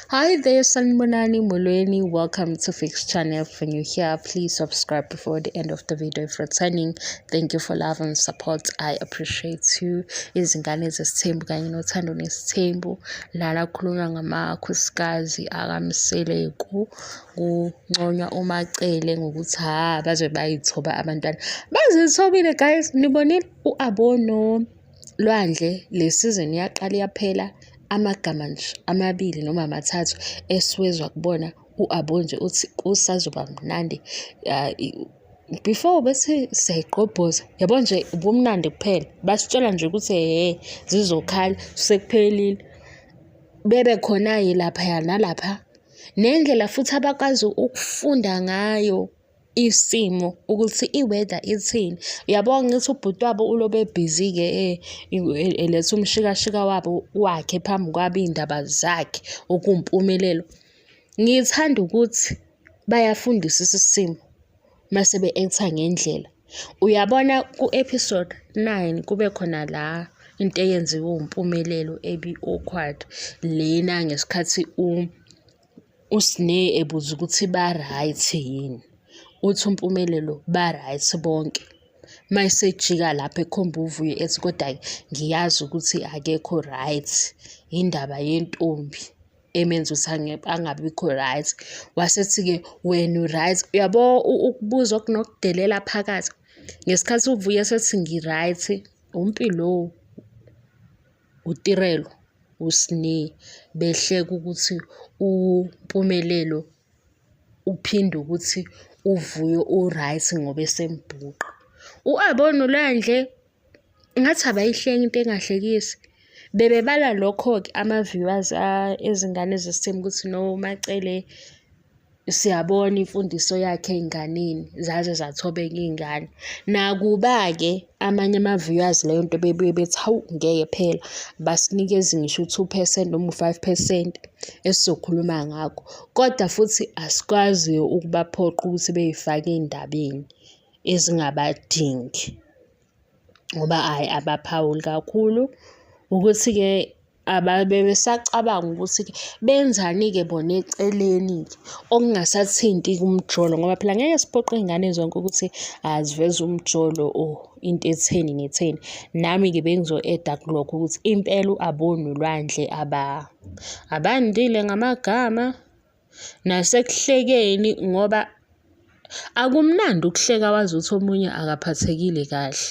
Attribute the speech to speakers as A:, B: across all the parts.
A: Hi there, Sanbonani Molweni. Welcome to Fix Channel. If you're new here, please subscribe before the end of the video. If returning, thank you for love and support. I appreciate you. Izingane zesithembu kanye nothando nesithembu. Lala khulunywa ngamakhosikazi akamseleku kunconywa umacele ngokuthi ha baze bayithoba abantwana. Bazithobile guys, nibonile uAbono. lwandle le sizini yaqala yaphela amagama nje amabili noma amathathu esiwezwa kubona u-abo nje uthi kusazoba mnandi before bese siyayigqobhoza yabo nje ubumnandi kuphela basitshela nje ukuthi he zizokhala sekuphelile bebe khona-ke laphaya nalapha nendlela futhi abakwazi ukufunda ngayo isimo ukuthi i-weather ithini. Uyabo ngithi ubhuti wabo ulobe ebhizi-ke eh, eletha umshikashika wabo wakhe phambi kwabo iy'ndaba zakhe okuwumpumelelo. Ngithanda ukuthi bayafundisisa isimo mase be-act-a ngendlela. Uyabona ku-episode nine kube khona la into eyenziwe uMpumelelo ebi-awkward lena ngesikhathi uSne ebuza ukuthi ba-right yini, uthi uMpumelelo ba-right bonke. Uma esejika lapho ekhomba uVuyo ethi koda-ke ngiyazi ukuthi akekho right, yindaba yentombi emenza ukuthi angabikho right. Wasethi-ke wena u-right, uyabo ukubuza okunokudelela phakathi. Ngesikhathi uVuyo esethi ngi-right, umpi lowo. uTirelo uSne behleka ukuthi uMpumelelo uphinde ukuthi uVuyo uright ngoba esembhuqa. U-Abona uLwandle ngathi abayihleki into engahlekisi. Bebebala lokho-ke ama-viewers ezingane zesithembu ukuthi no Macele siyabona imfundiso yakhe ey'nganeni zaze zathobeka iy'ngane. Nakuba-ke amanye ama-viewers leyo nto bebuye bethi hawu ngeke phela basinikeze ngisho u-two percent noma u-five percent esizokhuluma ngakho. Kodwa futhi asikwazi ukubaphoqa ukuthi bey'fake ey'ndabeni ezingabadingi ngoba hhayi abaphawuli kakhulu. Ukuthi-ke ababesacabanga ukuthi-ke benzani-ke bona eceleni-ke okungasathinti kumjolo ngoba phela ngeke siphoqe iy'ngane zonke ukuthi aziveze umjolo or into etheni netheni nami-ke bengizo-eda kulokho ukuthi impela u-abonolwandle aba abandile ngamagama nasekuhlekeni ngoba akumnandi ukuhleka wazi ukuthi omunye akaphathekile kahle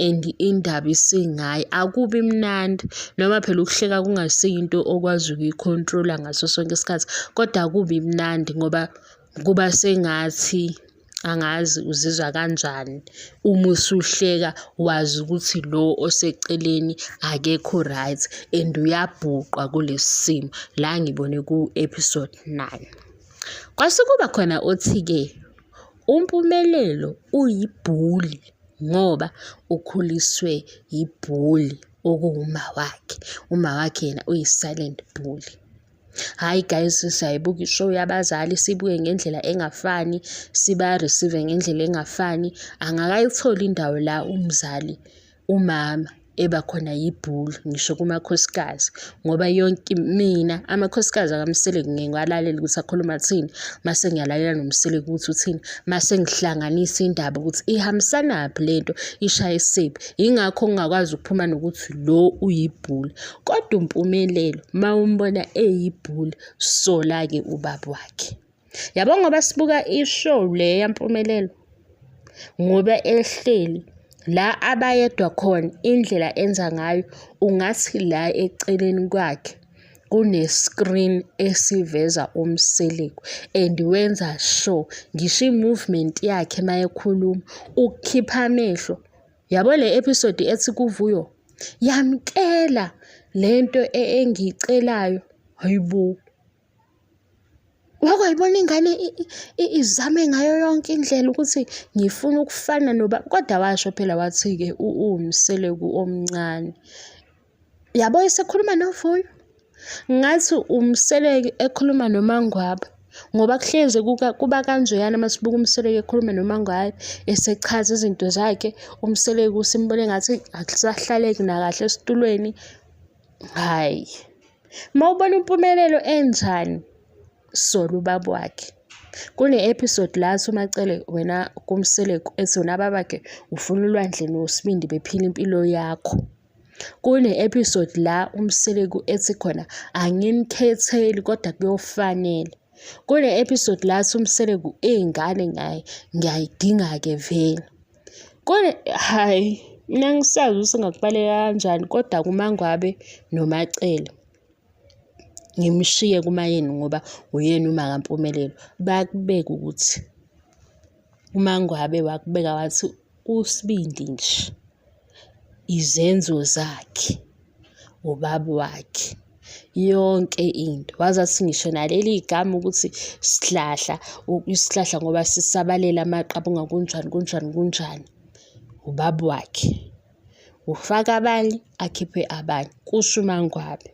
A: and indaba isingayi akubi mnandi noma phela ukuhleka kungasiyinto okwazi ukuyi-control-a ngaso sonke isikhathi kodwa akubi mnandi ngoba kuba sengathi angazi uzizwa kanjani uma usuhleka wazi ukuthi lo oseceleni akekho right and uyabhuqwa kulesi simo la ngibone ku-episode nine kwase kuba khona othi-ke umpumelelo uyibhuli ngoba ukhuliswe yibhuli okuwuma wakhe uma wakhe yena uyi-silent bully Hhayi guys siyayibuka i-show yabazali sibuke ngendlela engafani, siba-receive-e ngendlela engafani. Angakayitholi indawo la umzali, umama eba khona yibhulu ngisho kumakhosikazi ngoba yonke mina amakhosikazi akamseleki ngeke ngiwalalele ukuthi akhuluma kuthini, mase ngiyalalela nomseleki ukuthi uthini, mase ngihlanganisa indaba ukuthi ihambisanaphi le nto, ishayisephi. Yingakho ngingakwazi ukuphuma nokuthi lo uyibhula. Kodwa uMpumelelo mawumbona eyibhuli sola-ke ubaba wakhe. Yabo ngoba sibuka i-show le yaMpumelelo ngoba ehleli la abayedwa khona indlela enza ngayo ungathi la eceleni kwakhe kune-screen esiveza umseleku and wenza sure ngisho i-movement yakhe uma ekhuluma ukukhipha amehlo yabo le episode ethi kuvuyo yamkela lento e, engiyicelayo hayibo wake wayibona ingane izame ngayo yonke indlela ukuthi ngifuna ukufana noba kodwa washo phela wathi-ke uwumseleku omncane Yabo esekhuluma novuyo. Ngathi umseleki ekhuluma nomangwaba ngoba kuhleze kuba kanjeyana uma sibuka umseleki ekhuluma nomangwayi esechaza izinto zakhe umseleki usimbone ngathi akusahlaleki nakahle esitulweni hhayi uma ubona impumelelo enjani sola ubaba wakhe kune-episode la athi umacele wena kumseleku ethi wena babakhe ufuna ulwandle nosibindi bephila impilo yakho Kune-episode la uMseleku ethi khona angimkhetheli kodwa kuyofanele. Kune-episode la athi uMseleku iy'ngane ngaye ngiyayidinga-ke vele. Kune hhayi mina angisazi ukuthi ngakubaleka kanjani kodwa kuMaNgwabe noMacele ngimshiye kumayeni ngoba uyena uma kampumelelo bakubeke ukuthi uMaNgwabe wakubeka wathi usibindi nje. izenzo zakhe ubaba wakhe yonke into waze athi ngisho naleli gama ukuthi sihlahla isihlahla ngoba sisabalela amaqabunga kunjani kunjani kunjani ubaba wakhe ufaka abanye akhiphe abanye kusho umangwabe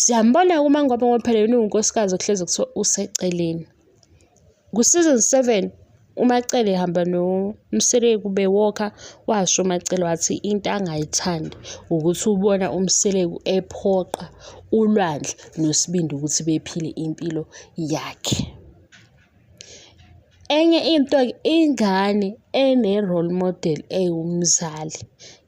A: siyambona-ke umangwabe ngoba phela yena uwunkosikazi okuhlezi kuthiwa useceleni Ku-season seven uMacele ehamba noMseleku kube walker washo uMacele wathi into angayithandi ukuthi ubona uMseleku ephoqa uLwandle noSibindi ukuthi bephile impilo yakhe. Enye into-ke ingane ene-role model ewumzali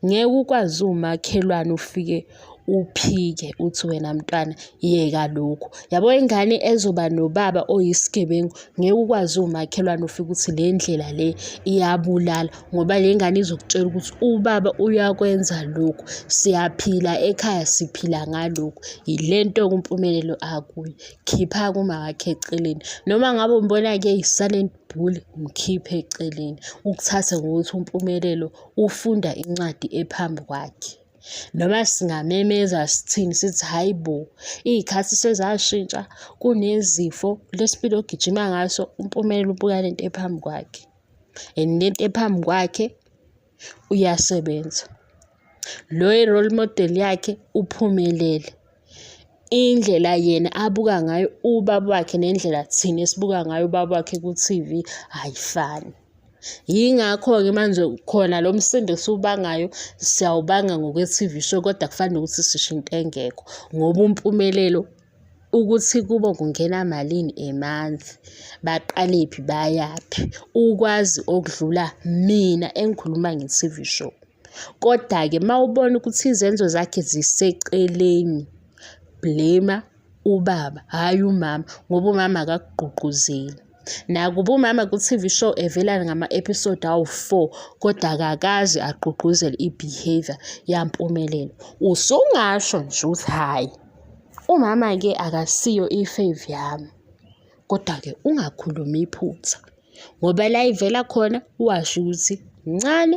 A: ngeke ukwazi uwumakhelwane ufike uphike uthi wena mntwana yeka lokhu yabo ingane ezoba nobaba oyisigebengu ngeke ukwazi umakhelwane ufike ukuthi le ndlela le iyabulala ngoba le ngane izokutshela ukuthi ubaba uyakwenza lokhu siyaphila ekhaya siphila ngalokhu yile nto kumpumelelo akuyo khipha kumawakhe eceleni noma ngabe umbona-ke yisalenti uJule mkhiphe eceleni ukuthathe ngokuthi uMpumelelo ufunda incwadi ephambi kwakhe. Noma singamemeza sithini sithi hhayi bo, iy'khathi sezashintsha kunezifo le spidi ogijima ngaso uMpumelelo ubuka le nto ephambi kwakhe and le nto ephambi kwakhe uyasebenza. Lo i-role model yakhe uphumelele. indlela yena abuka ngayo ubaba wakhe nendlela thina esibuka ngayo ubaba wakhe ku-TV ayifani. Yingakho-ke manje khona lo msindo esiwubangayo siyawubanga ngokwe-T_V show kodwa kufana nokuthi sisho into engekho ngoba umpumelelo ukuthi kubo kungena malini a month, baqalephi bayaphi, ukwazi okudlula mina engikhuluma nge-T_V show. Kodwa-ke uma ubona ukuthi izenzo zakhe ziseceleni, blame ubaba, hhayi umama ngoba umama akakugqugquzeli. Nakuba umama ku-T_V show evela ngama-episode awu-four kodwa akakaze agqugquzele i-behaviour yaMpumelelo. Usungasho nje ukuthi hhayi umama-ke akasiyo i-fave yami, kodwa-ke ungakhulumi iphutha. ngoba la ivela khona washo ukuthi mncane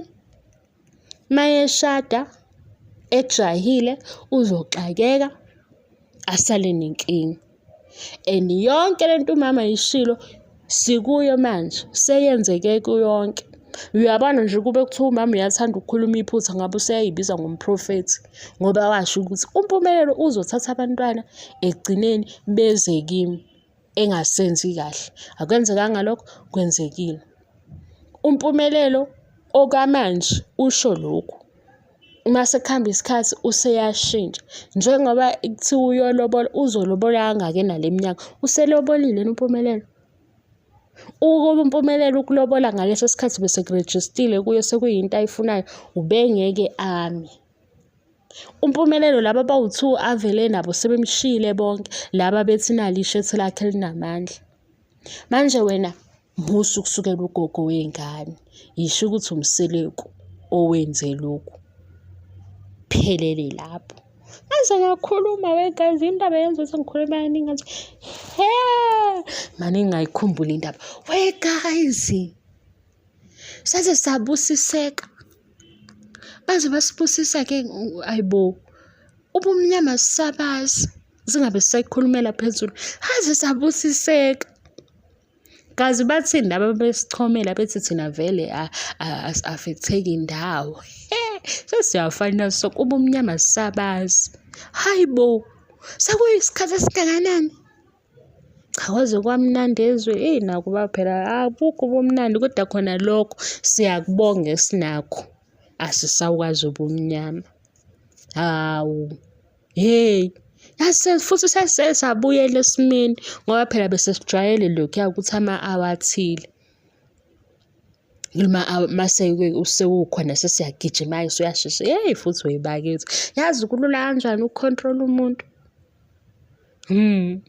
A: mayeshada ejahile uzoxakeka asale nenkinga and yonke lento umama yishilo sikuyo manje seyenzeke kuyonke uyabona nje kube kuthiwa umama uyathanda ukukhuluma iphutha ngabe useyayibiza ngomprofethi ngoba washo ukuthi umpumelelo uzothatha abantwana ekugcineni beze kimi engasenzi kahle akwenzekanga lokho kwenzekile umpumelelo okwamanje usho lokhu uma sekuhamba isikhathi useyashintsha njengoba kuthiwa uyolobola uzolobola kangaki enale minyaka uselobolile umpumelelo ukuba umpumelelo ukulobola ngaleso sikhathi besekurejistile kuyo sekuyinto ayifunayo ubengeke ame Umpumelelo laba bawu-two avele nabo sebemshiyile bonke laba bethi nali ishethi lakhe elinamandla. Manje wena musa ukusukela ugogo wey'ngane, yisho ukuthi umseleku owenze lokhu. Phelele lapho. Ngaze ngakhuluma wegazi indaba yenza ukuthi ngikhulume kaningi ngathi he! Mane ngingayikhumbuli indaba. We guys! saze sabusiseka baze basibusisa ke ayibo ubumnyama sabazi singabe sisayikhulumela phezulu haze sabusiseka kazi bathini laba besichomela bethi thina vele afetheki ndawo sesiyafana so kuba umnyama sabazi hayi bo sekuyisikhathi esingakanani Cha kwaze kwamnandi ezwe, eyi nakuba phela abukho ubumnandi kodwa khona lokho siyakubonga esinakho. Asisakwazi ubumnyama, hawu, hheyi. Yase futhi sase sabuyela esimeni ngoba phela bese sijwayele lokhuya ukuthi ama-hour athile noma mase sewukhona sesiyagijima-ke suyashesha. Hheyi futhi webakithi, yazi kulula kanjani uku-control-a umuntu. Hmm.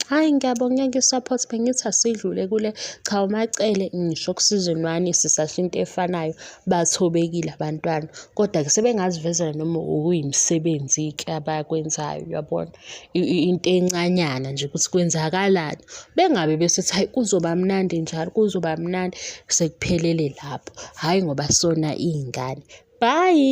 A: Hhayi ngiyabonga nge-support bengithi asidlule kule cha uMacele ngisho okusizweni lwani sisasho into efanayo bathobekile abantwana kodwa-ke sebengazivezela noma okuyimisebenzi-ke abakwenzayo uyabona into encanyana nje ukuthi kwenzakalani bengabe besethi hhayi kuzoba mnandi njalo kuzoba mnandi sekuphelele lapho hhayi ngoba sona iy'ngane bhayi.